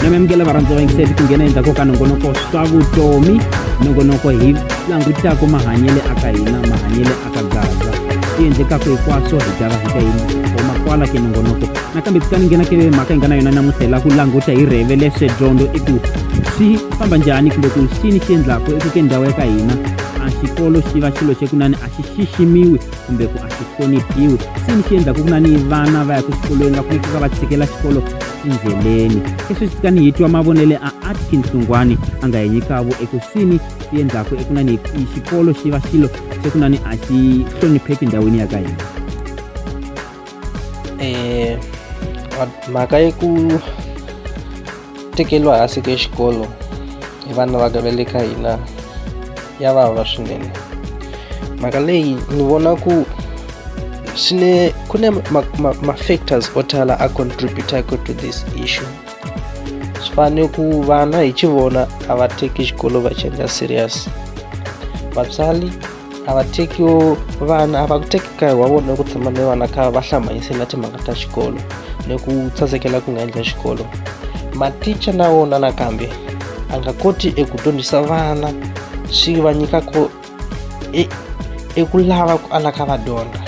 na mi amukela varhandza va yingiseli ku nghena endzhaku ka nongonoko swa vutomi nongonoko hi langutaka mahanyele aka hina mahanyele aka gaza swi endlekaka hinkwaswo hi java hi ka yini homa kwala ke nongonoko nakambe tsika ni nghena ke mhaka hi nga na yona namuntlha hi la ku languta hi rheve leswe dyondzo i ku swi famba njhani kumbe ku xini xi endlaka eku ke ndhawu ya ka hina a xikolo xi va xilo xa ku nani a xi xiximiwi kumbe ku a xi hloniphiwi se ni xi endlaku ku nani vana va ya ku xikolweni va faneke va va tshikela xikolo endleleni leswi swi kani hi twa mavonele a atkin hlungwani a nga hi nyikavo eku sini swi endlaku eku nani xikolo xi va xilo xa ku nani a xi hlonipheki ndhawini ya ka hina um mhaka ya ku tekeriwa hansi ka xikolo hi vana va ka va le ka hina ya vava swinene mhaka leyi ni vona ku swi ne ku ne ma-factors o tala a contributaka to this issue swi fane ku vana hi chi vona a va teki xikolo va chenja serious vatswari a va teki vana a va ku teki nkarhi wa vona ku tshama ni vana kha va hlambanyisela timhaka ta xikolo ni ku tsandzekela ku nga endla xikolo maticha na wona nakambe a nga koti eku dyondzisa vana swi va nyika ko e, eku lava ku ala ka va dyondza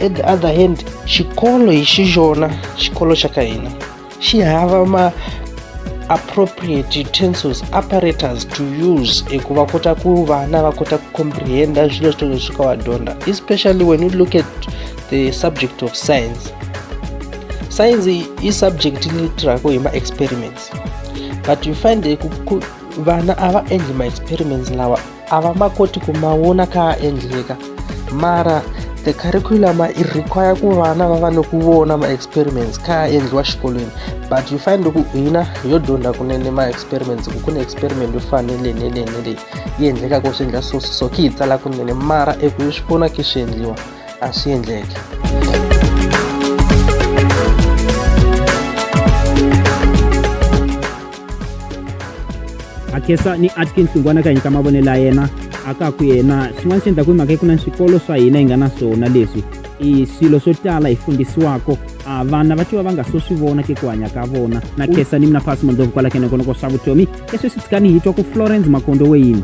at the other hand xikolo hi xi xona xikolo xa ka hina xi hava ma appropriate utensils apparatus to use eku va kota ku vana va kota ku comprehenda swilo swo leswi ka va dyondza especially when you look at the subject of science science i subject leyi tirhaka hi ma-experiments but you find vana a va endli ma-experiments lawa a va ma koti ku ma vona kha a endleka mara the curriculum i require ku vana va va ni ku vona ma-experiments kha a endliwa xikolweni but you find ku hina yo dyondza kunene ma-experiments ku ku ni experiment yo fana ni leyi ni leyi ni leyi yi endlekaka swi endla so so ki yi tsala kunene mara eku yi swi vona ki swi endliwa a swi endleke akhesa ni atkins n'wana ka nyika mavonelo ya yena a ka ku yena swin'wana swi endlaku hi mhaka yi ku na swikolo swa hina hi nga na swona leswi i swilo swo tala hi fundisiwako a vana va tiwa va nga so swi vona ke ku hanya ka vona na khesa ni mina phasi mondlovu kwala kenekonoko swa vutomi leswi swi tshikani hi twa ku florence makondo weyini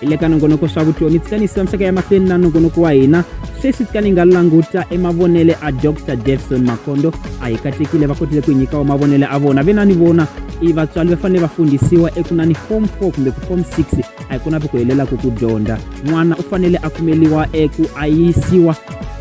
hi le ka nongonoko swa vutomi tsikanisisa misaka ya mahlweni na nongonoko wa hina sweswi tsika ni nga languta emavonele a dr davison makondo a hi katekile va kotile ku hi nyikawa mavonele a vona ve na ni vona i vatswari va fanele va fundhisiwa eku na ni form 4 kumbe ku form 6 a hi kona vi ku helelaka ku dyondza n'wana u fanele a kumeliwa eku a yisiwa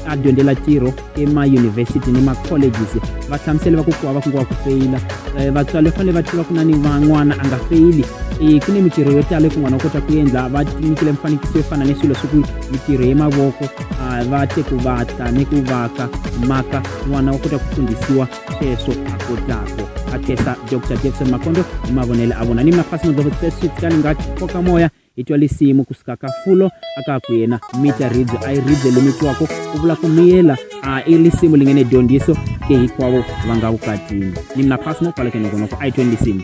a dyondzela ntirho emayunivhesiti ni ma-colleges va hlamusele va ku kuwa va ku ngiwa ku feyila um eh, vatswari fanele va tiva ku na ni van'wana a nga feyili um ku ni mintirho yo tala ku n'wana u kota ku endla va nyikile mifanekiso yo fana ni swilo swi ku mintirho ya mavoko ah, va te ku vatla ni ku vaka maka n'wana u kota ku fundhisiwa sweswo a kotlako a kesa dr jackson makondo hi mavonelo a vona ni mafasi modloko seswi tikalinga koka moya hi twa lisimu kusuka ka fulo a ka ku yena mita ribye a yi ribye limitiwako u vula ku miyela a i lisimu li nge ne dyondziso ke hikwavo va nga vukatini ni mina phasi no kwaleke nokonoko a yi tweni lisimu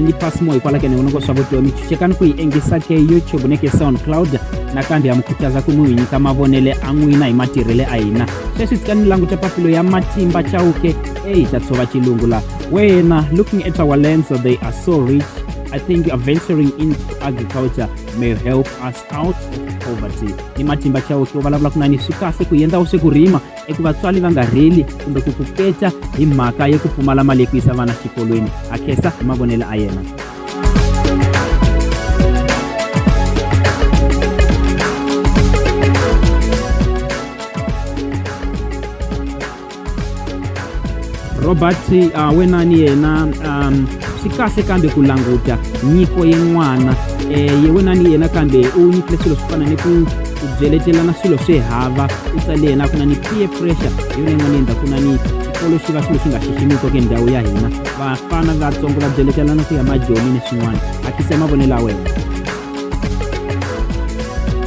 ni pasimo ikwalakene unongo swavutiwa michuchekani ku yi engisa ke youtube ni ke soundcloud nakambe ya mi khutaza ku mi wi nyika mavonele a n'wina hi matirhele a hina sweswi tsika ni languta papilo ya matimba chauke eyi ta tshova xilungu la wena looking at our lands they are so rich I think you are venturing into agriculture may help us out of poverty. Ni matimba chao ukiwa balabula kuna ni swikahle ku yenda use kurima i ku vatswari va nga rili kumbe ku ku peta hi mhaka ya ku pfumala mali ya ku yisa vana xikolweni a khensa hi mavonelo a yena robert uh, wenani yena um, swi kahle kambe ku languta nyiko yin'wana um eh, yewena ni yena kambe u nyikile swilo swo fana ni ku ku byeletelana swilo swi hava u tsale yena ku na ni peer pressure hi yona yin'wana yendla ku na ni xikolo xi va swilo swi nga xiximiko ke ndhawu ya hina vafana vatsongo va byeletelana ku ya majoni ni swin'wana a tise mavonelo ya wena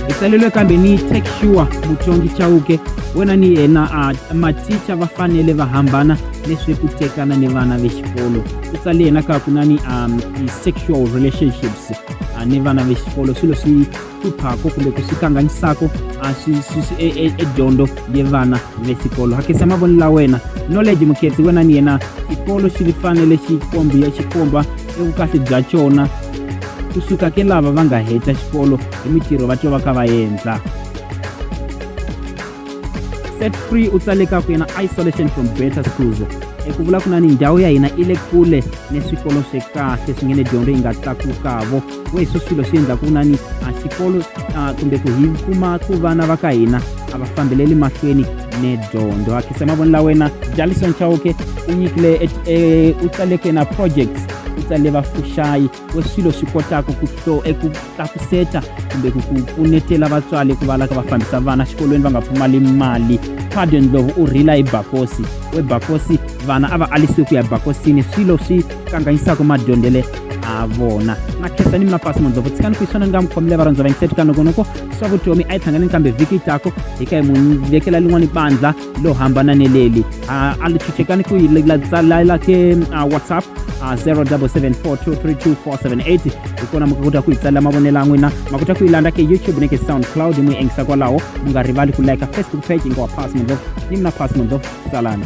hi tsalelwe kambe ni take sure mutsongi chauke wena ni yena a maticha va fanele va hambana leswi ku tekana ni vana ve xikolo ku sale yena ka ku na ni um sexual relationships uh, ni vana ve xikolo swilo swi hluphako kumbe ku swi kanganyisako uh, swi swi swi e- e- edyondzo ye vana ve xikolo hakisa mavonelo la wena knowledge mukhetsi wena ni yena xikolo xi fanele xi kombiya xi komba evukahle bya xona kusuka ke lava va nga heta xikolo hi mitirho va twa va ka va endla set free u tsale ka ku yena isolation from better schools eku vula ku na ni ndhawu ya hina i le kule ni swikolo swi kahle swi nge ni dyondzo yi nga tlakukavo we hi swo swilo swi endlaku ku na ni a xikolo kumbe ku hi kuma ku vana va ka hina a va fambeleli mahlweni ni dyondzo ha khisa mavoni la wena jalison chauke u nyikile e, e, u tsale ku yena projects u tsale vafuxayi wa swilo swi kotaka ku to eku tlakuseta kumbe ku ku pfunetela vatswari ku va la ka va fambisa vana xikolweni va nga pfumali mali pardon ndlovu u rhila hi bakosi we bakosi vana a va alisiwe ku ya bakosini swilo swi kanganyisaka madyondzele a vona na khesa ni mapasi mandlovu tshikani ku iswona ni nga mi khomile varhandza va yingisetikanokonoko swa vutomi a yi tlhanganeni kambe vhiki yi tako hi ka hi mu vekela lin'wana bandla lo hambana ni leli a a li chuchekani ku yi layila ke whatsapp 0774232478 hi kona mi kota ku yi tsalela mavonelo ya n'wina ma kota ku yi landza ke youtube ni ke soundcloud mi yingisa kwalaho mi nga rivali ku like facebook page yi nga wa pass mondlovu ni mina pass mondlovu salani